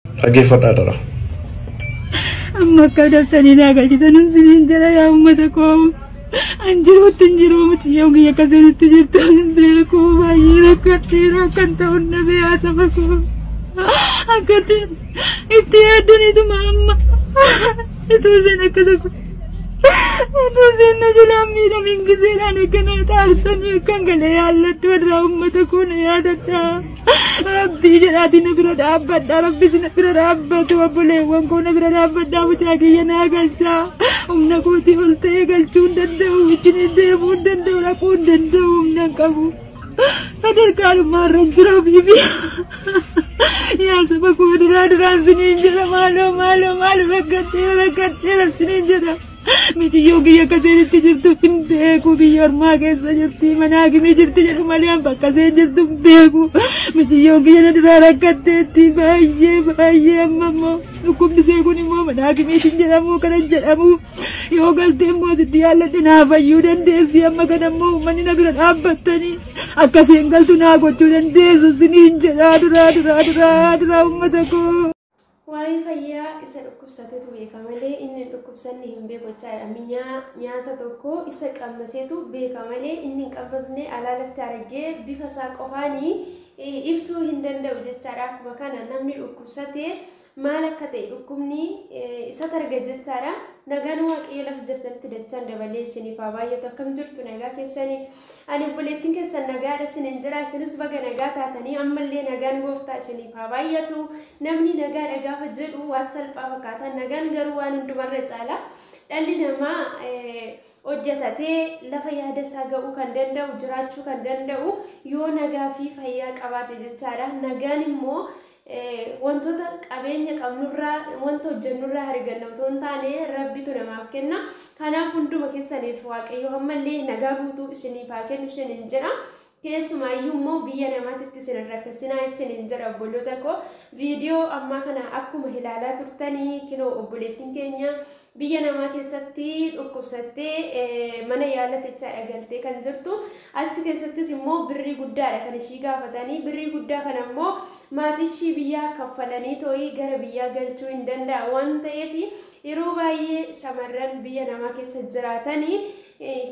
Dhaggeeffadhaa dara. Amma akka daftanii naa galchitanuun siniin jala yaa uummata koo. An jiruutti hin jiru mucayyoon kiyya akka sanitti jirtu hin beeku baay'ee rakkatti rakkan ta'uun dhabee haasaba koo. Akkatti itti yaaddaniituma amma ituu seen akka tokko. Ituu seen na jalaan miidhamiin giseedhaan akka na taartanii akkan galee yaalladhu irraa uummata koo na yaadadhaa. Rabbii jedhaatii na bira dhaabbadha. Rabbi si na bira dhaabbatu obboleewwan koo na bira dhaabbadha. Mucaa kiyya naa galchaa. Humna kootii ol ta'ee galchuu hin danda'u. Wajjin deemuu hin danda'u. Dhaquu hin danda'u. Humna hin qabu. Sadarkaa dhummaa irra hin jira biibi. Yaa saba koo duraa duraan siniin jedha maaloo maaloo maaloo rakkadhee rakkadhee siniin jedha. Mitiyyoo kiyya akka seenitti jirtu hin beeku biyya ormaa keessa jirti mana hakimii jirti jedhu malee an bakka seen jirtu hin beeku mitiyyoo kiyya na duraa rakkatteetti baay'ee baay'ee amma immoo dhukkubni see kun immoo mana hakimiitiin jedhamu kana hin jedhamu yoo galtee immoo sitti yaalladhe naa fayyuu dandeessi amma kana immoo uummanni na bira dhaabbattanii akka seen galtu naa gochuu dandeessu siniin jedhaa duraa duraa duraa duraa uummata koo. Waa'ee fayyaa isa dhukkubsatetu beeka malee inni hin dhukkubsanne hin beeku jechaadha. Minyaa nyaata tokko isa qammaseetu beeka malee inni hin qammasne alaalatti argee bifa isaa qofaanii eh, ibsuu hin danda'u jechaadha. Akkuma kana namni dhukkubsate maal akka ta'e dhukkubni eh, isa targa jechaadha. Nagaan waaqayyo lafa jirtanitti dachaan dabalee isiniif haa baay'atu akkam jirtu nagaa keessanii. Ani obboleettiin keessan nagaadha isinin jira isinis baga nagaa taatanii ammallee nagaan gooftaa isiniif haa baay'atu namni nagaadha gaafa jedhu waan salphaa fakkaata nagaan garuu waan hundumarra caala dhalli namaa hojjetatee lafa yaada isaa ga'uu kan danda'u jiraachuu kan danda'u yoo nagaa fi fayyaa qabaate jechaadha nagaan immoo Wantoota qabeenya qabnurraa, wanta hojjennurraa hariganna otoo hin taane Rabbitu namaaf kenna. Kanaaf hunduma keessaniif Waaqayyo hammallee nagaa guutuu isiniif haa kennu isiniin jedha. Keessumaayyuu immoo biyya namaatitti isin hin rakkisinaa isiniin jedha obboloota koo. Viidiyoo ammaa kana akkuma ilaalaa turtanii kinoo obboleettiin keenya Biyya namaa keessatti dhukkubsattee mana yaala techaadha galtee kan jirtu. Achi keessattis immoo birrii guddaadha kan ishii gaafatanii. Birrii guddaa kana immoo maatiishii biyyaa kaffalanii too'ii gara biyyaa galchuu hin danda'a waan ta'eef yeroo baay'ee shamarran biyya namaa keessa jiraatanii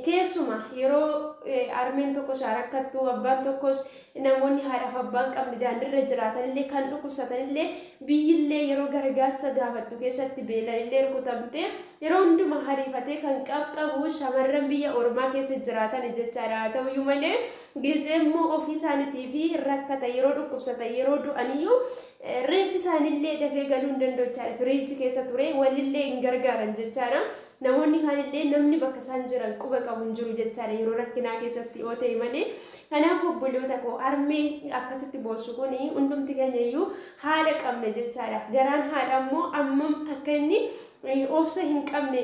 keessuma yeroo armeen tokko shaarakkattu abbaan tokkos Namoonni haadhaaf abbaa hin qabne daandirra jiraatanillee kan dhukkubsatanillee biyyillee yeroo gargaarsa gaafattu keessatti beelanillee rukutamtee yeroo hundumaa hariifatee kan qabqabu shamarran biyya ormaa keessa jiraatan jechaadha haa ta'uyyuu malee gizee immoo ofii isaaniitii fi rakkata yeroo dhukkubsata yeroo du'aniyyuu reeffi isaanillee dafee galuu hin danda'u jechaadha firiiji keessa ture walillee hin gargaaran jechaadha Namoonni kaan illee namni bakka isaan jiran quba qabu hin jiru jechaadha yeroo rakkinaa keessatti yoo ta'e malee. Kanaaf obboloota koo harmeen akkasitti boossu kun hundumti keenya iyyuu haadha qabna jechaadha. Garaan haadha immoo ammam akka inni obsa hin qabne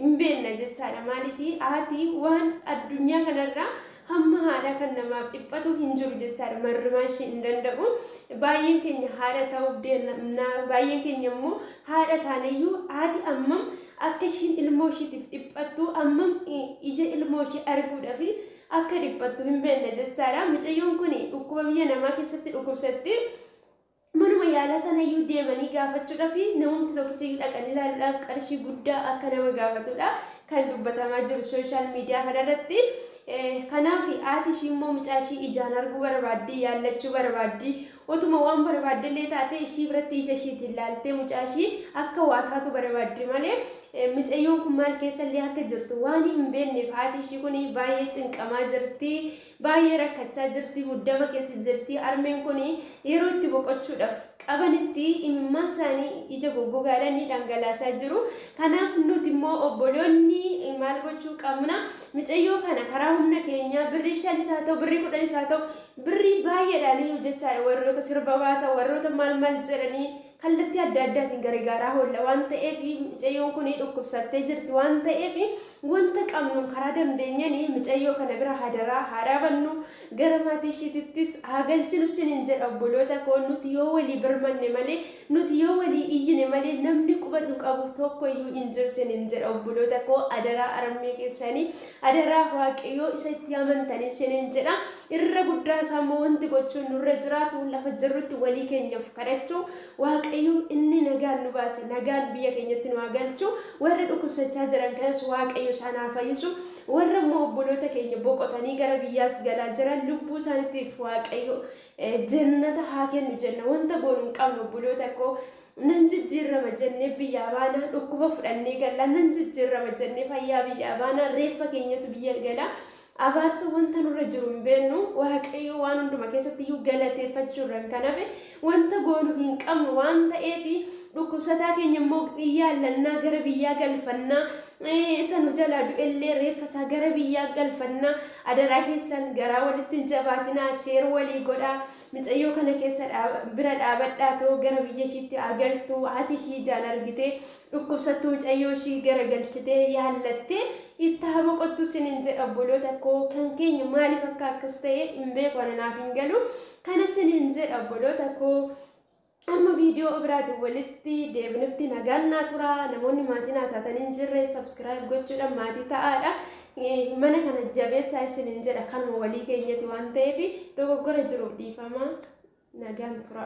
hin beekna jechaadha. Maaliif haati waan addunyaa kanarraa Hamma haadhaa kan namaaf dhiphatu hin jiru jechaadha. Marrimaa ishii hin danda'u. Baay'een keenya haadha ta'uuf deemna. Baay'een keenya immoo haadha taaneyyuu haati ammam akka ishiin ilmoo ishiitiif dhiphattu ammam ija ilmoo ishii arguudhaaf akka dhiphattu hin beekna jechaadha. Mucayyoon kun dhukkuba biyya namaa keessatti dhukkubsatti. Manuma yaalaa sanayyuu deemanii gaafachuudhaaf namumti tokkichiyyuu dhaqanii ilaaluudhaaf qarshii guddaa akka nama gaafatudha kan dubbatamaa jiru sooshaal miidiyaa kanarratti. Kanaaf haati ishii immoo mucaa ishii ijaan arguu barbaaddi, yaallachuu barbaaddi. Otuma waan barbaadde illee taate ishii biratti ija ishiitiin laaltee mucaa ishii akka waa taatu barbaaddi malee mucayyoon kun maal keessa illee akka jirtu waan hin beekneef haati ishii kun baay'ee cinqamaa jirti. Baay'ee rakkachaa jirti, muddama keessa jirti. Armeen kun yeroo itti boqochuudhaaf qabanitti imimmaan isaanii ija goggogaadhaan ni dhangalaasaa jiru. Kanaaf nuti immoo obboloonni maal gochuu qabna? Micayyoo kana karaa humna keenyaa birrii shanis haa ta'u, birrii kudhanis haa ta'u, birrii baay'eedhaan hojjechaadha. Warroota sirba baasa, warroota maal maal jedhanii Kallattii adda addaatiin garegaaraa hoolla waan ta'eef micayyoon kun dhukkubsattee jirti waan ta'eef wanta qabnuun karaa dandeenyeen micayyoo kana bira hadaraa haa dhaabannu gara maatii ishiitittis haa galchinu sinin jedha obboloota koo nuti yoo walii birmanne malee nuti yoo walii iyyine malee namni quba nu qabu tokko iyyuu hin jiru sinin jedha obboloota koo adaraa arammee keessanii adaraa waaqayyoo isa itti amantanii sinin jedha. Irra guddaa isaa immoo wanti gochuun nurra jiraatu lafa jirrutti walii keenyaaf kadhachuu waaqayyo inni nagaan nu baase nagaan biyya keenyatti nu haa galchu warra dhukkubsachaa jiran kanas waaqayyo isaan haa fayyisu warra immoo obboloota keenya boqotanii gara biyyaas galaa jiran lubbuu isaaniitiif waaqayyo eh, jannata haa kennu jenna wanta goonu hin qabnu obboloota koo nan jijjiirrama jennee biyyaa baanaa dhukkuba fudhannee gallaa nan jijjiirrama jennee fayyaa biyyaa baanaa reeffa keenyatu biyya galaa Abaarsa wanta nurra jiru hin beennu, Waaqayyo waan hunduma keessatti iyyuu galateeffachuu irran kan hafe wanta goonu hin qabnu waan ta'eef dhukkubsataa keenya immoo in yaallannaa gara biyyaa galfannaa isa nu jalaa du'ellee reeffa isaa gara biyyaa galfannaa adaraa keessan garaa walitti hin jabaatinaa sheer walii godhaa micayyoo kana keessa bira dhaabadhaa too gara biyya ishiitti haa galtu haati ishii ijaan argitee Dhukkubsattu mucayyoo ishii gara galchitee yaallattee itti haa boqottu sinin jedha obboloota koo kan keenya maaliif akka akkas ta'e hin beeku ana naaf hin galu kana sinin jedha obboloota koo amma viidiyoo biraatiin walitti deebinutti nagaan naa tura namoonni maatii naa taatan hin jirre sabskiraayib gochuudhaan maatii ta'aadha mana kana jabeessaa isinin jedha kanuma walii keenyati waan ta'eef dogoggora jiruuf dhiifama nagaan tura.